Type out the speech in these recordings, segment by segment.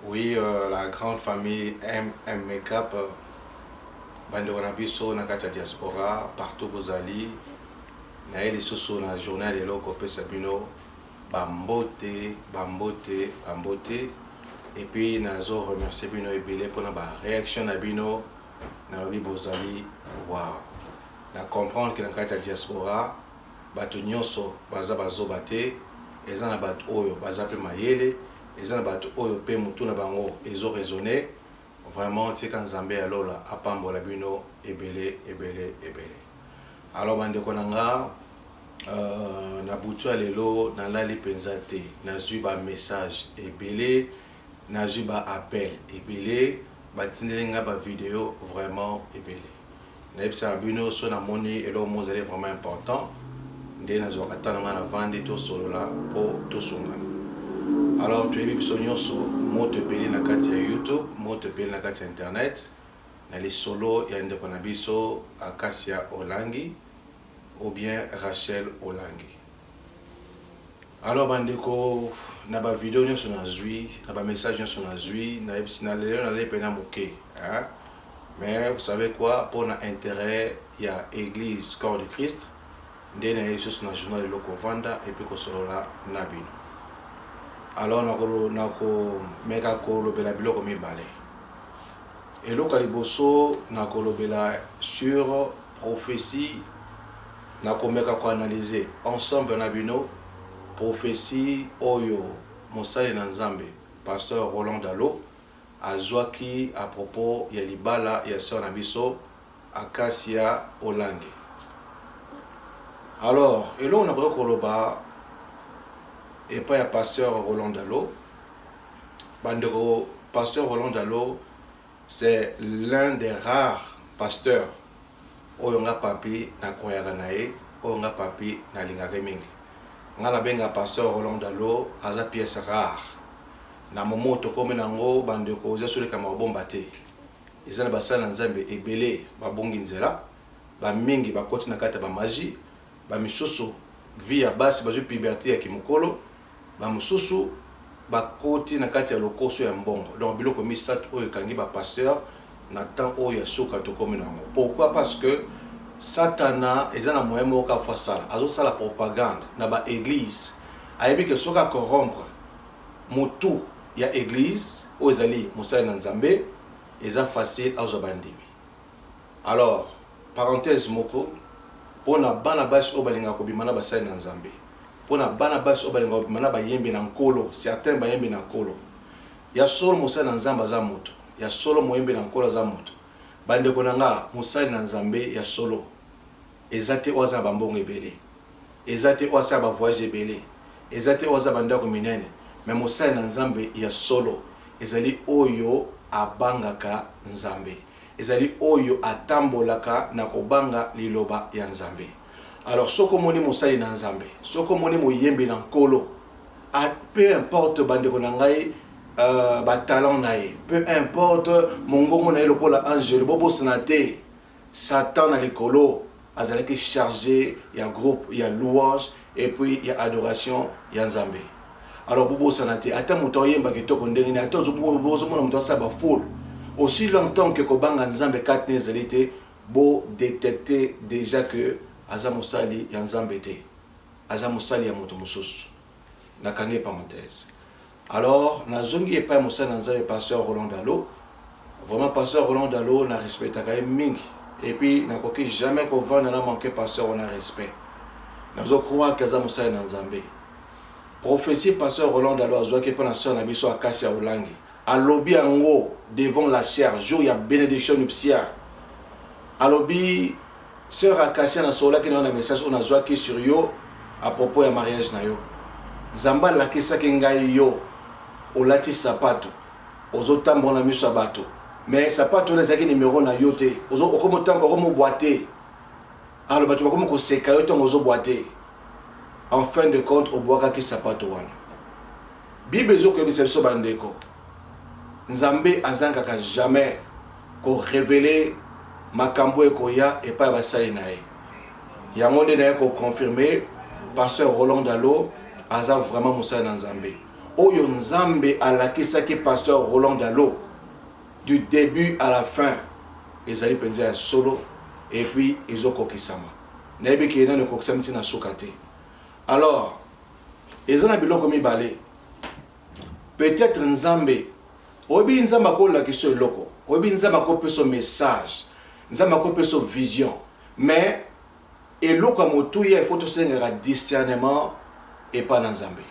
Oui, euh, la grande famille MM Makeup, euh, bandeko na biso na kati ya diaspora partout bozali naye lisusu na journal lelo kopesa bino bambote bambote bambote epuis nazo remercie bino ebele mpona bareaction na bino nalobi bozali wow Na comprendre que na kati ya diaspora batu nionso baza ba zoba te, eza na batu oyo baza pe mayele, eza na batu oyo pe mutu na bango ezo raisonner, vraiment tika Nzambe ya lola apambola bino ebele ebele ebele. Alors ba ndeko na nga euh na butu ya lelo na lali penza te, nazui ba messages ebele, nazui ba appels ebele, Batindeli nga ba video vraiment ebele. Nayebisaka bino soki namoni eloko moko ezali vraiment important nde nazwaka temps na nga navandi tosolola po tosungana. Alors toyebi biso nionso moto epeli na kati ya YouTube, moto epeli na kati ya internet na lisolo ya ndeko na biso Acacia Olangi ou bien Rachel Olangi. Alors bandeko na ba video nyonso nazwi na ba message nyonso nazwi nayebisi na lelo nalei mpena moke mais vous savez quoi mpo na intérêt ya église corps du christ nde naye lisusu na journal lelo kovanda epe kosolola na bino alors nakomeka kolobela biloko mibale eloko ya liboso nakolobela sur prophétie Nakomeka ko analyser ensemble na bino prophetie oyo mosali na Nzambe Pasteur Roland Dalo azuaki à propos ya libala ya soeur na biso Acacia Olangi. Alors, eloko nakoki koloba epai ya Pasteur Roland Dalo, bandeko Pasteur Roland Dalo, C'est l'un des rares pasteurs oyo nga Papy na croyaka na ye, oyo nga Papy na lingaka ye mingi. Nga na benga pasteur Roland Dalo aza pièce rare. Na moment oyo tokomi na ngo ba ndeko eza sous likambo ya kobomba te. Eza na ba sali na Nzambe ebele ba bungi nzela, ba mingi ba koti na kati ya ba magie, ba misusu vie ya basi bazui puberte ya ki mukolo, Bamosusu bakoti na kati ya lokoso ya mbongo. Donc biloko misatu oyo ekangi ba pasteurs na temps oyo ya suka tokomi na yango. Pourquoi? Parce que satana eza na moyen moko kaka faut asala. Azo sala propagande na ba eglises. Ayebi que soki a corrompre mutu ya eglise oyo ezali mosali na Nzambe, eza facile azwa bandimi. Alors, parenthèse moko, pona bana basi oyo balingaka kobima na basali na Nzambe, pona bana basi oyo balingaka kobima na bayembi na Nkolo, certains bayembi na Nkolo. Ya solo mosali na Nzambe aza moto, ya solo moyembi na Nkolo aza moto. Ba ndeko na nga, mosali na Nzambe ya solo eza te oyo aza na ba mbongo ebele, eza te oyo asala ba voyages ebele, eza te oyo aza na ba ndako minene, mais mosali na Nzambe ya solo ezali oyo abangaka Nzambe. ezali oyo atambolaka na kobanga liloba ya Nzambe. Alors soki omoni mosali na Nzambe, soki omoni moyembi na Nkolo, a peu importe bandeko na ngai euh, ba talent na ye, peu importe mongongo na ye lokola angelu, bobosana te Satan na likolo Azalaki charge ya groupe ya louange et puis ya adoration ya Nzambe. Alors bobosana te ata moto oyemba kitoko ndenge nini ata ozomona moto asala ba foule aussi longtemps que kobanga Nzambe kati na ezali te bo detecter dejà que aza mosali ya Nzambe te aza mosali ya moto mosusu. Nakangi parenthèse. Alors na zongi epai mosali na Nzambe Pasteur Roland Dalo. Vraiment Pasteur Roland Dalo na respectaka ye mingi et puis na koki jamais ko vanda na manquer Pasteur wana respect. Nazo croire que aza mosali na Nzambe. Prophetie Pasteur Roland Dalo azuaki epai na soeur na biso Acacia Ulangi. Alobi yango devant la chaire jour ya benediction nuptiale. Alobi Soeur Acacia na sololaki na yo na message oyo nazwaki sur yo à propos ya mariage na yo. Nzambe alakisaki ngai yo olati sapatu ozo tambola na miso ya bato mais sapatu wana ezalaki numero na yo te. Ozo okomo tambola okomo boite. Alors bato bakomi koseka yo ntango ozo boite. En fin de compte obuakaki sapatu wana. Bible ezo koyebisa biso ba ndeko. Nzambe azangaka jamais ko reveler makambu oyo ekoya epai ya basali na ye. Yango nde naye ko confirmer Pasteur Roland Dalo aza vraiment mosali na Nzambe. Oyo Nzambe alakisaki Pasteur Roland Dalo du debut à la fin ezali penza ya solo et puis ezo kokisama. Nayebi que nanu ekokisami ti na suka te. Alors eza na biloko mibale. Peut etre nzambe oyebi nzambe ako lakiso eloko oyebi nzambe ako peso message nzambe ako peso vision mais eloko ya motuya il faut tosengaka discernement epa na nzambe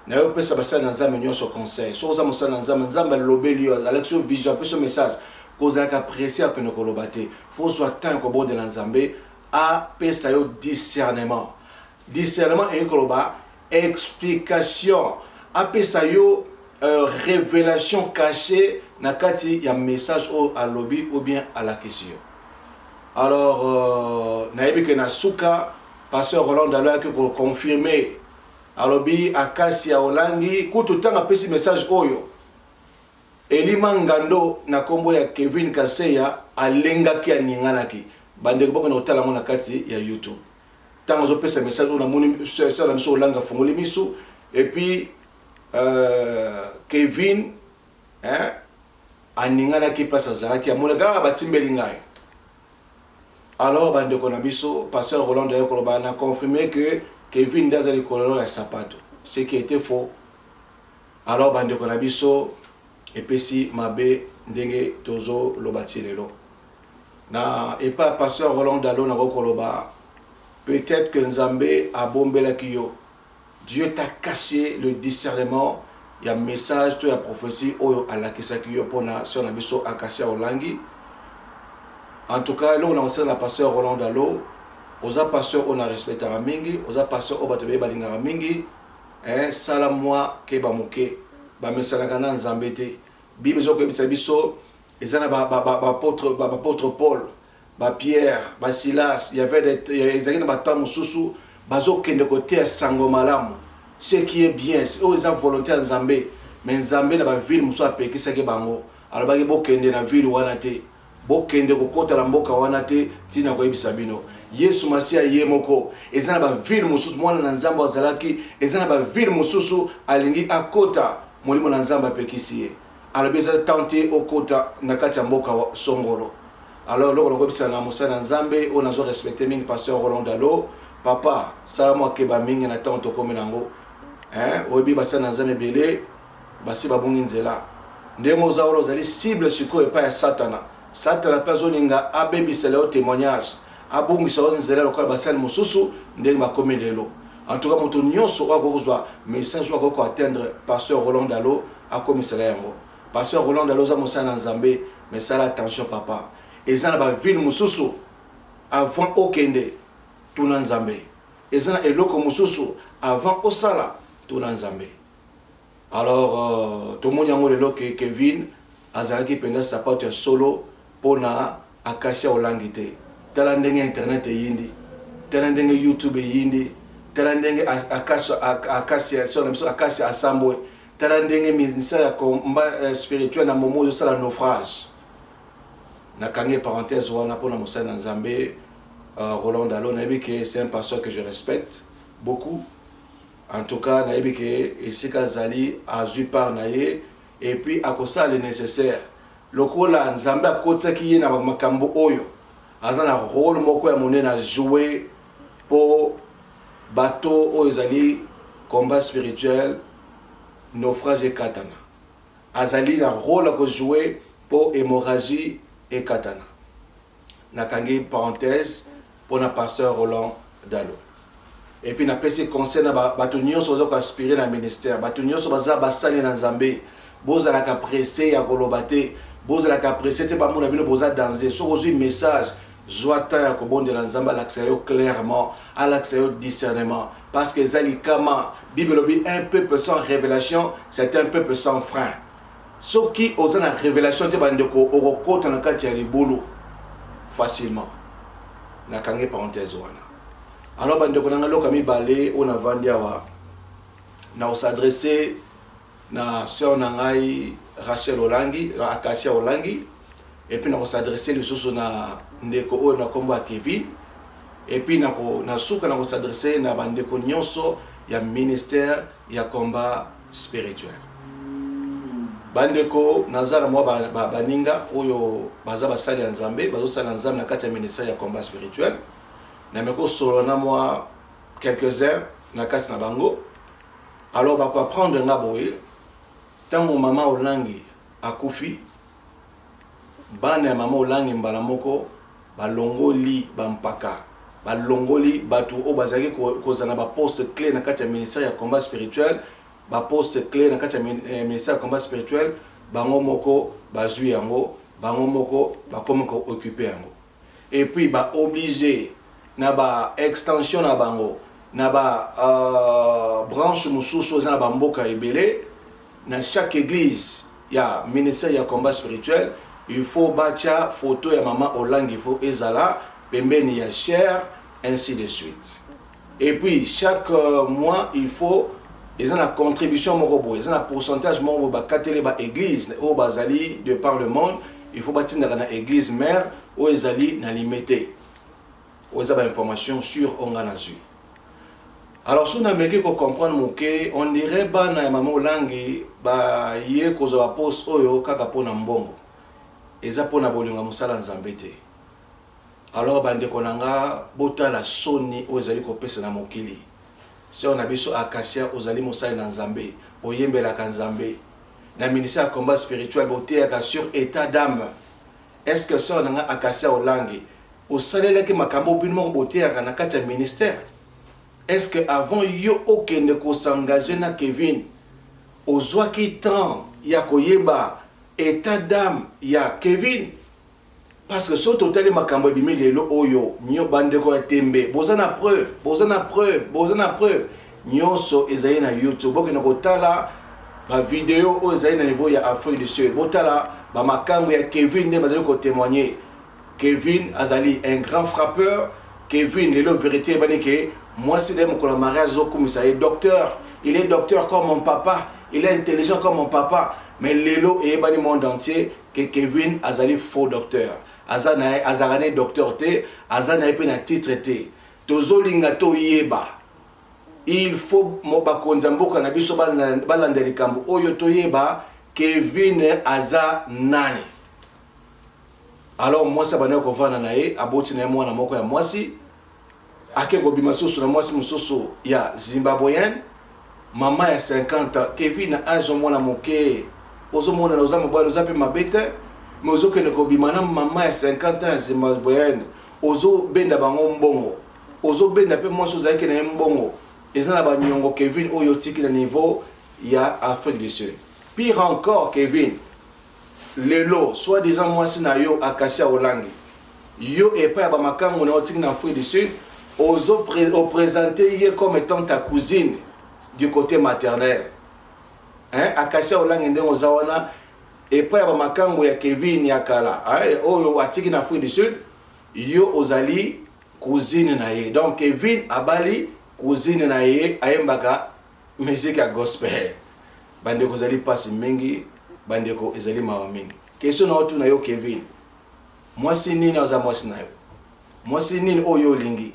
nayo opesa basali na nzambe nyonso conseil soki oza mosali na nzambe nzambe alobeli yo alakisi yo vision apesi yo message kozalaka presse ya kende koloba te fo ozwa temps ya kobondela nzambe apesa yo discernement Discernement elingi koloba explication, apesa yo euh, revelation cachee na kati ya message oyo alobi ou bien alakisi yo. Alors euh, nayebi ke na suka pasteur Roland Dalo ayaki ko confirmer alobi akasi ya olangi kutu ntango apesi message oyo elima ngando na nkombo ya kevin kaseya alengaki aninganaki bandeko bakona kotala yango na kati ya youtube Tango azo pesa message oyo namoni sœur na biso olanga afongoli miso et puis euh, Kevin hein aninganaki place azalaki amonaki ah batimbeli ngai alors bandeko na biso pasteur Roland aye koloba na confirme que Kevin nde aza likolo ya sapato ce qui était faux alors bandeko na biso epesi mabe ndenge tozoloba ti lelo Na epa ya pasteur Roland Dalo nakoki koloba peut etre que Nzambe abombelaki yo, Dieu t'a cache le discernement ya message to ya prophetie oyo alakisaki yo pona soeur na biso Acacia Olangi. En tout cas eloko nako senga na pasteur Roland Dalo oza pasteur oyo na respectaka mingi, oza pasteur oyo batu ebele balingaka mingi eh sala mua keba muke, ba mesanaka na Nzambe te. Bible ezo koyebisa biso Eza na ba ba ba ba apôtre ba apôtre Paul, ba Pierre, ba Silas, il y avait des ezaki na ba temps mususu bazo kende ko teya sango malamu ce qui est bien oyo eza volonte ya Nzambe mais Nzambe na ba ville mususu apekisaki bango alobaki bokende na ville wana te bokende kokota na mboka wana te ti na koyebisa bino Yesu Masiya ye moko eza na ba ville mususu mwana na Nzambe azalaki eza na ba ville mususu alingi akota molimo na Nzambe apekisi ye Alobi eza temps te okota na kati ya mboka songolo. Alors eloko na koyebisa na mosali na Nzambe oyo nazo respecter mingi pasteur Roland Dalo, papa sala mua keba mingi na temps tokomi nango hein, oyebi basali na Nzambe ebele basi babungi nzela ndenge oza wana ozali cible sikoyo epai ya satana. Satana mpe azolinga abebisela yo temoignage, abungisa yo nzela lokola basali mosusu ndenge bakomi lelo. En tout cas moto nyonso oyo akoki kozwa message oyo akoki ko atteindre pasteur Roland Dalo akomisela ye yango. Pasteur Roland Dalo oza mosali na Nzambe mais sala attention papa. Eza na ba ville mosusu avant okende tuna Nzambe. Eza na eloko mosusu avant osala tuna Nzambe. Alors tomoni yango lelo que Kevin azalaki penza sapatu ya solo pona Acacia Olangi te. Tala ndenge internet eyindi, tala ndenge YouTube eyindi, tala ndenge Acacia, sœur na biso Acacia asambwe, tala ndenge ministère ya combat spirituel na Momo ezosala naufrage. Nakangi parenthèse wana pona mosali na Nzambe Roland Dalo, nayebi que c'est un pasteur que je respecte beaucoup. En tout cas nayebi ke esika azali azui part na ye et puis akosala le necessaire lokola Nzambe akotisaki ye na makambo oyo aza na role moko ya monene a jouer po bateau oyo ezali combat spirituel naufrage ekatana azali na role ya ko jouer po hemorragie ekatana nakangi parenthèse pona pasteur Roland Dalo et puis na pesi conseil na bato nyonso baza ko aspirer na ministère bato nyonso baza basali na Nzambe bozalaka presse ya koloba te bozalaka presse te bamona bino boza danze soki ozwi message zwa temps ya kobondela Nzambe alakisa yo clairement alakisa yo discernement parce que eza likama bible elobi un peuple sans révélation c'est un peuple sans frein Soki oza na revelation te ba ndeko okokota na kati ya libulu facilement. Na kangi parenthèse wana. Alors ba ndeko na nga loka mibale oyo na vandi awa na ko s'adresser na sœur na ngai Rachel Olangi, Acacia Olangi et puis na ko s'adresser lisusu na ndeko oyo na kombo ya Kevin et puis na ko na suka na ko s'adresser na ba ndeko nyonso ya ministère ya combat spirituel bandeko naza na mwa baninga ba, ba oyo baza basali ya nzambe bazosala na nzambe na kati ya ministère ya combat spirituel na meko kosolola na mwa quelques-uns na kati na bango alors bakoapprendre nga boye ntango mama olangi akufi Bana ya mama Olangi mbala moko balongoli ba mpaka, balongoli batu oyo bazalaki kozala na ba postes cles na kati ya ministère ya combat spirituel, ba postes cles na kati ya ministère ya combat spirituel bango moko bazui yango, bango moko bakomi ko occuper yango. et puis ba oblige na ba extension na bango na ba branche mususu eza na ba mboka ebele na chaque eglise ya ministère ya combat spirituel il faut batia photo ya maman olangi il faut ezala pembeni ya chaire ainsi de suite Et puis chaque mois il faut eza na contribution moko boye eza na pourcentage moko boye bakateli ba eglise oyo bazali de par le monde il faut batindaka na eglise mère oyo ezali na limete oyo eza ba information sur oyo ngai nazwi alors soki nameki kocomprendre moke on dirait bana ya mama olangi baye kozwa baposte oyo kaka mpo na mbongo eza mpo na bolingo ya mosala nzambe te Alors ba ndeko na nga botala soni oyo ezali kopesa na mokili. Soeur na biso Acacia ozali mosali na Nzambe, oyembelaka Nzambe. Na ministère ya combat spirituel boteyaka sur etat d'ame. Est ce que soeur na nga Acacia Olangi osalelaki makambo oyo bino moko boteyaka na kati ya ministère? Est ce que avant yo okende ko s'engager na Kevin ozwaki temps ya koyeba etat d'ame ya Kevin? Parce que soki totali makambo ebimi lelo oyo nyo ba ndeko ya tembe boza na preuve boza na preuve boza na preuve nyoso ezali na youtube bokende kotala ba video oyo ezali na niveau ya Afrique du Sud botala ba makangu ya Kevin nde bazali ko temoigner Kevin azali un grand frappeur Kevin lelo verite ebani ke mwasi na ye mokolo ya mariage ezokumisa ye docteur il est docteur comme mon papa il est intelligent comme mon papa mais lelo eyebani monde entier que Kevin azali faux docteur aza naye azalaka naye docteur te aza naye pe na titre te tozolinga toyeba il faut bakonzi ya mboka na biso balanda likambo oyo toyeba Kevin aza nani alors mwasi abandaki kovanda na ye aboti na ye mwana moko ya mwasi Ake kobima lisusu na mwasi mosusu ya Zimbabweenne, mama ya 50 ans. Kevin na age ya mwana moke, ozo monana oza mobali, oza pe mabe te, mais ozo kende kobima na mama ya 50 ans ya Zimbabweenne, ozo benda bango mbongo, ozo benda pe mwasi ozalaki na ye mbongo. Eza na ba niongo Kevin oyo otiki na niveau ya Afrique du Sud. Pire encore Kevin, Lelo soit disant mwasi na yo Acacia Olangi yo epai ya ba makangu na yo otiki na Afrique du Sud ozo o presenter ye comme etant ta cousine du cote maternel hein Acacia Olangi ndenge oza wana epai ya ba makangu ya Kevin ya kala hein, oyo atiki na Afrique du Sud yo ozali cousine na ye donc Kevin abali cousine na ye ayembaka Musique ya gospel bandeko ezali pasi mingi, bandeko ezali mawa mingi. Question na otuna yo Kevin, mwasi nini aza mwasi na yo? Mwasi nini oyo olingi?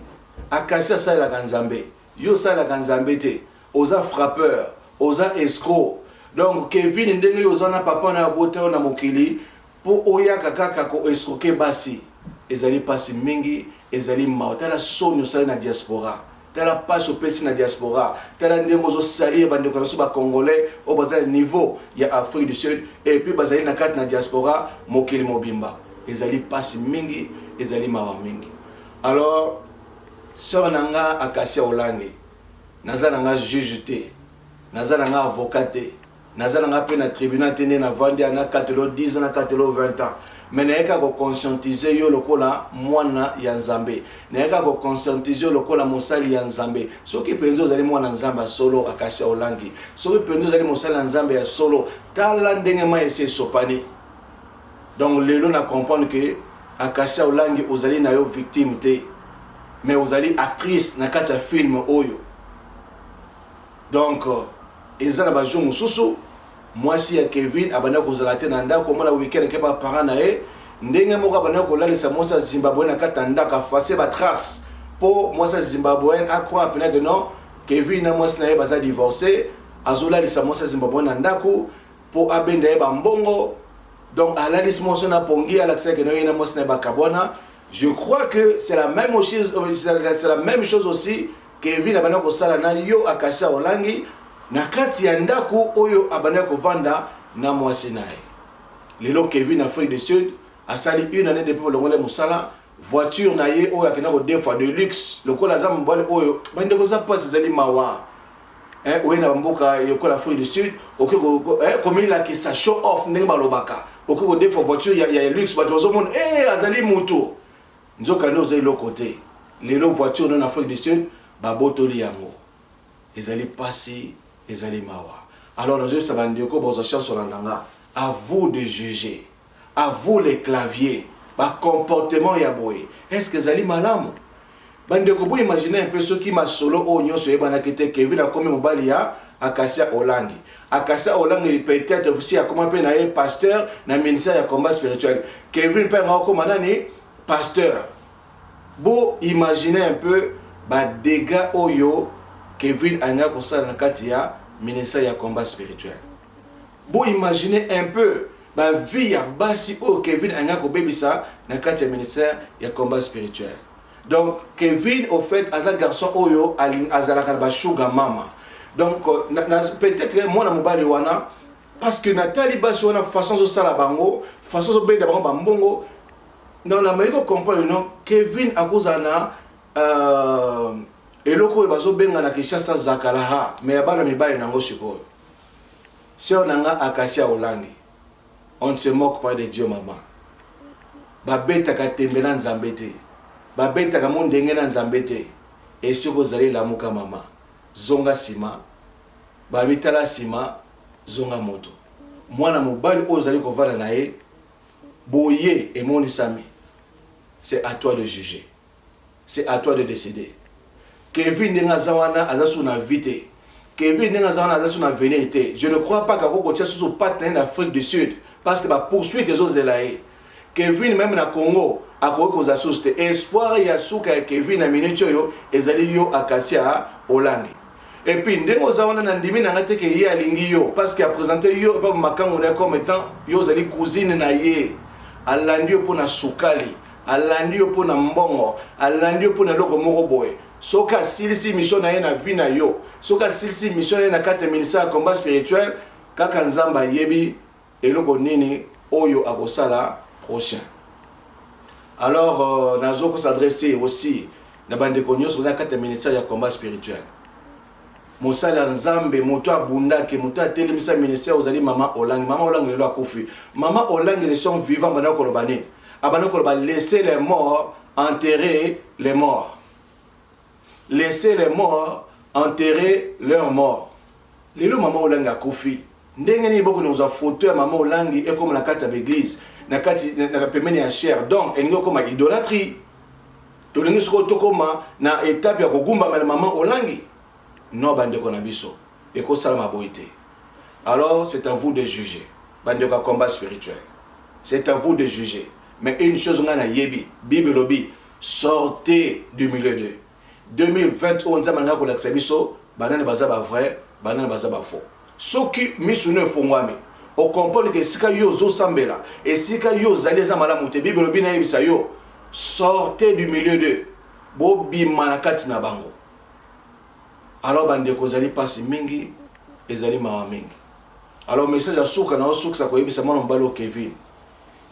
Akasi asalelaka Nzambe, yo osalelaka Nzambe te, oza frappeur, oza escroc. Donc Kevin, ndenge yo oza na papa na yo abota yo na mokili Po oyaka kaka ko escroquer basi ezali pasi mingi ezali mawa tala soni osali na diaspora tala pasi opesi na diaspora tala ndenge ozo salir ba ndeko na biso ba congolais oyo baza na niveau ya Afrique du Sud et puis bazali na kati na diaspora mokili mobimba ezali pasi mingi ezali mawa mingi alors soeur na nga Acacia Olangi naza na nga juge te naza na nga avocat te Naza na nga pe na tribunal te nde na vandi awa na katela yo 10 ans na katela yo 20 ans mais naye kaka ko conscientiser yo lokola mwana ya Nzambe naye kaka ko conscientiser yo lokola mosali ya Nzambe soki penza ozali mwana Nzambe ya solo Acacia Olangi soki penza ozali mosali ya Nzambe ya solo tala ndenge mayi esi esopani donc lelo na comprendre que Acacia Olangi ozali na yo victime te mais ozali actrice na kati ya film oyo Donc eza na ba jours mususu mwasi ya Kevin abanda kozala te na ndako mwana week-end ake ba parents na ye ndenge moko abanda kolalisa mwasi ya Zimbabwe na kati na ndako afase ba trace po mwasi ya Zimbabwe a croire pena que non Kevin na mwasi na ye baza divorce azolalisa mwasi ya Zimbabwe na ndako po abenda ye ba mbongo donc alalisi mwasi na pongi alakisa que non ye na mwasi na ye bakabwana Je crois que c'est la même chose, euh, c'est la même chose aussi Kevin abanda kosala na yo akasha olangi na kati ya ndako oyo abanda kovanda na mwasi na ye lelo Kevin Afrique du Sud asali une année depuis bolongole mosala voiture na ye oyo akenda kodefa de luxe lokola aza mobali oyo bandeko za mpasi ezali mawa eh, oye na bamboka yokola afrique du sud oke eh, komilakisa show off ndenge balobaka oke kodefa voiture ya, ya luxe bato bazomona hey, eh, azali moto nzoka nde oza eloko te lelo voiture no na afrique du sud babotoli yango ezali mpasi ezali mawa alors nazoyebisa bandeko bozwa chance olanda nga à vous de juger A vous les claviers, ba comportements ya boye est ce que ezali malamu? Ba ndeko bo imaginer un peu soki masolo oyo nionso eyebanaki te, Kevin akomi mobali ya Acacia Olangi. Acacia Olangi peut etre si akoma pe na ye pasteur na ministère ya combat spirituel, Kevin pe ango akoma nani? Pasteur. Bo imaginer un peu ba degats oyo Kevin alingaki kosala na kati ya ministère ya combat spirituel. Bo imaginer un peu ba vie ya basi oyo Kevin alingi akobebisa na kati ya ministère ya combat spirituel. Donc Kevin au fait aza garçon oyo azalaka na ba sugar mama. Donc peut-être mwana mobali wana parce que natali basi wana façon azosala bango façon azobenda bango bambongo donc nameki kocomprendre no kevin akozala na euh, eloko oyo bazobenga na kinshasa zakalaha me ya bana mibali nango sikoyo Soeur na nga Acacia Olangi on ne se moque pas de Dieu maman ba betaka tembe na Nzambe te ba betaka mundenge na Nzambe te et soki ozali lamuka maman zonga sima balobi tala sima zonga moto mwana mobali oyo ozali kovanda na ye boye emonisami c'est à toi de juger C'est à toi de decider. Kevin ndenge aza wana aza susu na vie te. Kevin ndenge aza wana aza susu na avenir te. Je ne crois pas kako kotia susu patte na ye na Afrique du Sud parce que ba poursuite ezo zela ye. Kevin meme na Congo akoki kozala susu te. Espoir ya suka ya Kevin na minute oyo ezali yo Acacia Olangi. Et puis ndenge oza wana na ndimi na ngai te ke ye alingi yo parce que a présenter yo epa makango na ye comme étant yo ozali cousine na ye. Alandi yo mpo na sukali. Alandi yo pona mbongo, alandi yo pona eloko moko boye. Soki asilisi mission na ye na vie na yo, soki asilisi mission na ye na kati ya ministère ya combat spirituel, kaka Nzambe ayebi eloko nini oyo akosala prochain. Alors euh, nazo ko s'adresser aussi na bandeko nyonso baza kati ya ministère ya combat spirituel. mosali ya nzambe moto abundaki moto atelemisa ministère ozali mama olangi mama olangi lelo akufi mama olangi le son vivant banda koloba nini abanda koloba laisser les morts enterrer les morts laisser les morts enterrer leur mort lelo mama olangi akufi Ndenge nini boko noza photo ya mama olangi ekoma na kati ya beglise na kati na pembeni ya chair donc elingi okoma idolatrie tolingi sikoyo tokoma na etape ya kogumbama na mama olangi non bandeko na biso ekosalama boye te alors c'est à vous de juger bandeko ya combat spirituel c'est à vous de juger mais une chose ngai nayebi bible elobi sortez du milieu de 2020 oyo nzambe alingi kolakisa biso banani baza ba vrai banani baza ba faux soki misu no efongwami okomprendre ke esika yo ozosambela esika yo ozali eza malamu te bible elobi nayebisa yo sortez du milieu de bobima na kati na bango alors bandeko ezali mpasi mingi ezali mawa mingi alors message ya suka na osukisa koyebisa mwana mobali o kevin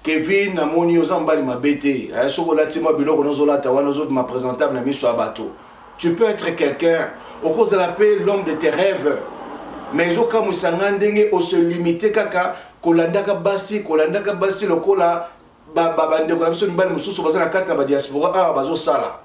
Kevin na moni oza mobali mabe te hein soki olati mwa biloko nozo lata wana ozo bima presentable na miso ya bato tu peux être quelqu'un okozala pe l'homme de tes rêves mais ezo kamwisa nga ndenge o se limite kaka kolandaka basi kolandaka basi lokola ba ba bandeko na biso mibali mosusu baza na kati na ba diaspora awa bazo sala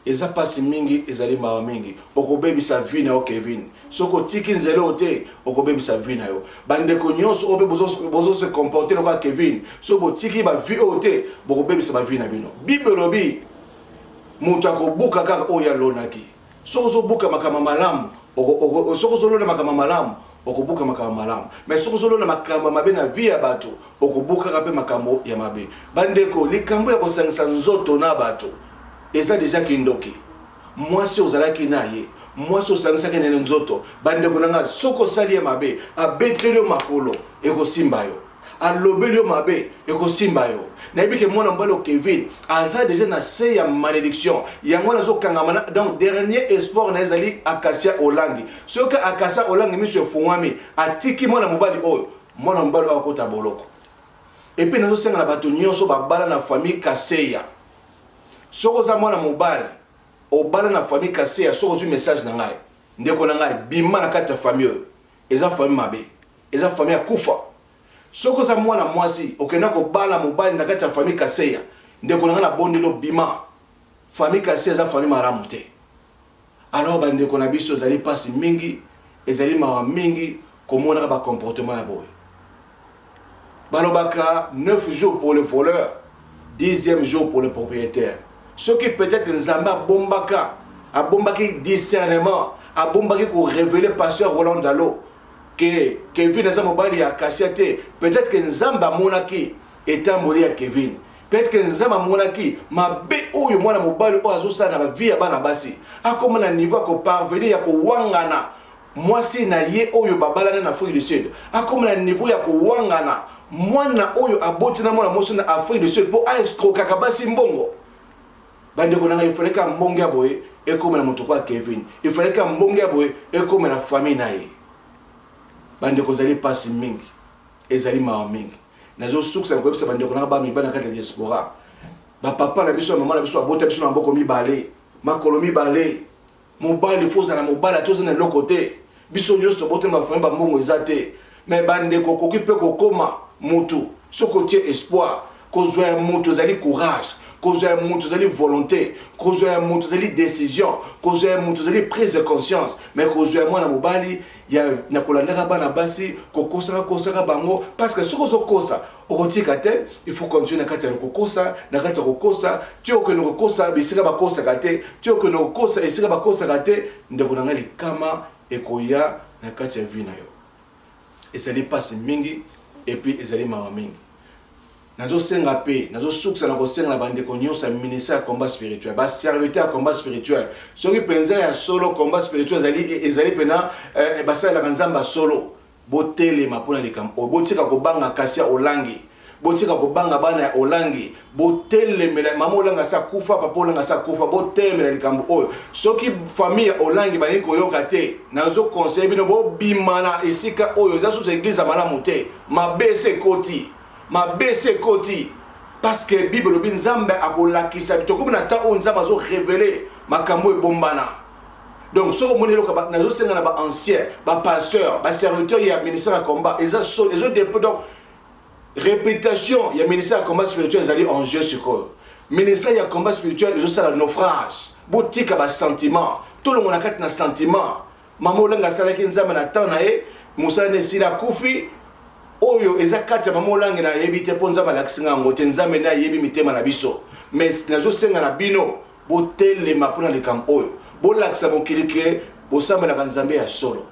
Eza pasi mingi ezali mawa mingi okobebisa vie na yo Kevin soki otiki nzela oyo te okobebisa vie na yo ba ndeko nionso oyo pe bozo se comporter lokola Kevin soki botiki ba vie oyo te bokobebisa ba vie na bino bible elobi mutu akobuka kaka oyo alonaki Soki ozo buka makambo ya malamu, soki ozo londa makambo ya malamu, oko buka makambo ya malamu. Mais soki ozo londa makambo ya mabe na vie ya bato, oko bukaka pe makambo ya mabe. Ba ndeko, likambo ya ko sangisa nzoto na bato, eza dejà kindoki. Mwasi ozalaki na ye, mwasi osangisaki na ye nzoto, ba ndeko na nga, soki osali ye mabe, abeteli yo makolo, eko simba yo. alobeli yo mabe ekosimba yo nayebi ke mwana mobali kevin aza deja na se ya malédiction yango wana azokangama na donc dernier espoir na ezali akasia olangi soki akasia olangi miso efungwami atiki mwana mobali oyo mwana mobali oyo akota boloko epuis nazosenga na bato nyonso babala na famille kaseya soki oza mwana mobali obala na famille kaseya soki ozwi message na ngai ndeko na ngai bima na kati ya famille oyo Eza famille mabe eza famille ya kufa soki oza mwana mwasi okenda kobala mobali na kati ya famille kaseya ndeko na nga na bondeli obima famille kaseya eza famille malamu te alors ba ndeko na biso ezali pasi mingi ezali mawa mingi komonaka ba comportement ya boye Balobaka 9 jours pour le voleur, 10e jour pour le propriétaire. Soki peut-être Nzambe abombaka, abombaki discernement, abombaki ko révéler pasteur Roland Dalo que Kevin aza mobali ya Kasia te, peut-être que Nzambe amonaki etamboli ya Kevin. Peut-être que Nzambe amonaki mabe oyo mwana mobali oyo azosala na ba vie ya bana basi. Akoma na niveau ya ko parvenir ya kowangana Mwasi na ye oyo babalana na Afrique du Sud akoma na niveau ya kowangana mwana oyo aboti na mwana mwasi na Afrique du Sud mpo a escrokaka basi mbongo. Bandeko na ngai, ifalaki ambonge ya boye ekomela moto kwa Kevin, ifalaki ambonge ya boye ekomela famille na ye. Bandeko, ezali pasi mingi, ezali mawa mingi. Nazosukisa na koyebisa bandeko na ngai ba mibali na kati ya diaspora, bapapa na biso na mama na biso babota biso na maboko mibale, makolo mibale mobali il faut ozala mobali ata oza na eloko te biso nyonso tobotami bafami bambongo eza te me bandeko okoki mpe kokoma motu soki otie espoir kozwa ya motu ezali courage kozwa ya motu ezali volonté kozwa ya motu ezali décision kozwa ya motu ezali prise de conscience me kozwa ya mwana mobali ya na kolandaka bana basi kokosaka kosaka bango parce que soki ozokosa okotika te il faut continuer na kati ya kokosa na kati ya kokosa ti okende kokosa bisika bakosaka te ti okende kokosa esika bakosaka te ndeko na ngai likama ekoya na kati ya vie na yo ezali mpasi mingi epuis ezali mawa mingi Nazo senga mpe nazo sukisa na kosenga na ba ndeko nionso ya ministère ya combat spirituel, ba serviteurs ya combat spirituel, soki penza ya solo combat spirituel ezali ezali pena eh, basalelaka Nzambe ya solo, botelema mpo na likambo oyo, botika kobanga Kasia Olangi, botika kobanga bana ya Olangi, botelemela mama Olangi asi akufa, papa Olangi asi akufa, botelemela likambo oyo. Soki famille ya Olangi balingi koyoka te, nazo conseiller bino bobima na esika oyo, eza susu eglise ya malamu te, mabe esi ekoti. Mabe esi ekoti parce que Bible elobi Nzambe akolakisa tokomi na temps oyo Nzambe azo revele makambo ebombana donc soki omoni eloko nazosenga na baancien bapasteur baserviteur ya ministère ya combat eza soni ezo depo donc réputation ya ministère ya combat spirituel ezali en jeu sikoyo ministère ya combat spirituel ezosala naufrage botika basentiment tolongo na kati na sentiment Mama Olenga asalaki Nzambe na temps na ye, mosala na esili akufi. Oyo eza kati ya Mama Olange na yebi te mpo Nzambe alakisi nga yango te. Nzambe nde ayebi mitema na biso. Mais nazosenga na bino botelema mpo na likambo oyo. Bolakisa mokili ke bosambelaka Nzambe ya solo.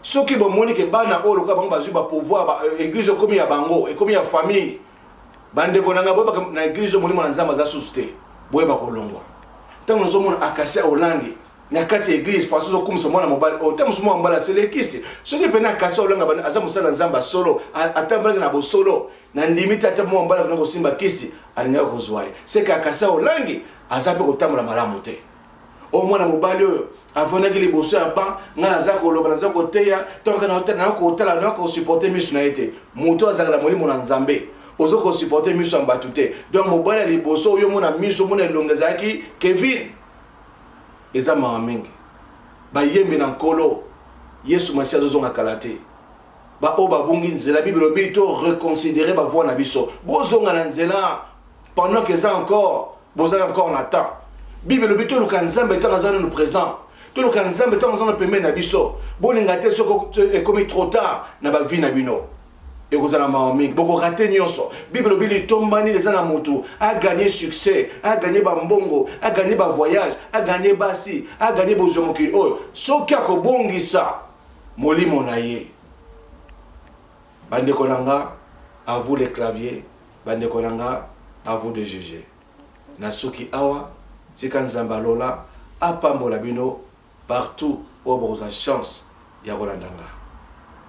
Soki bomoni ke bana oyo lokola bango bazwi ba pouvoir, ba euh, eglise ekomi ya bango, ekomi ya famille. Bandeko na nga boyebaka na eglise oyo molimo na Nzambe aza susu te. Boyeba kolongwa. Ntango nazomona Acacia Olange na kati ya eglise façon ozokumisa mwana mobali oyo ta mosusu mwana mobali aselekisi soki mpena kasi olanga bana aza mosala na nzambe solo atambolaki na bosolo na ndimi te ata mwana mobali akona kosimba kisi alingaki kozwa ye seke akasi olangi aza mpe kotambola malamu te oyo mwana mobali oyo avandaki liboso ya ban ngai naza koloba naza koteya tokanakootala na kosuporte miso na ye te moto azalaka na molimo na nzambe oza kosuporte miso ya bato te donc mobali ya liboso oyo omona miso omona elongo ezalaki kevine Eza mawa mingi bayembi na nkolo yesu masiya azozonga kala te ba oyo babungi nzela bible elobi to reconsidere ba voix na biso bozonga na nzela pendant que eza encore bozali encore na temps bible elobi toluka nzambe ntango aza nanu présent toluka nzambe ntango aza na pembeni na biso bolinga te soki ekomi trop tard na bavie na bino ekozala mawa mingi boko rate nyonso bible elobi litomba nini eza na motu aganye succès aganye bambongo aganye bavoyage aganye basi aganye bozwi ya mokili oyo soki akobongisa molimo na ye bandeko na nga à vous les claviers bandeko na nga à vous de juger nasuki awa tika nzambe alola apambola bino Partout oyo bokozwa chance ya kolanda nga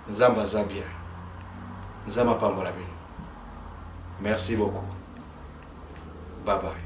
nzambe aza bien nzambe apambola bino merci beaucoup bye bye.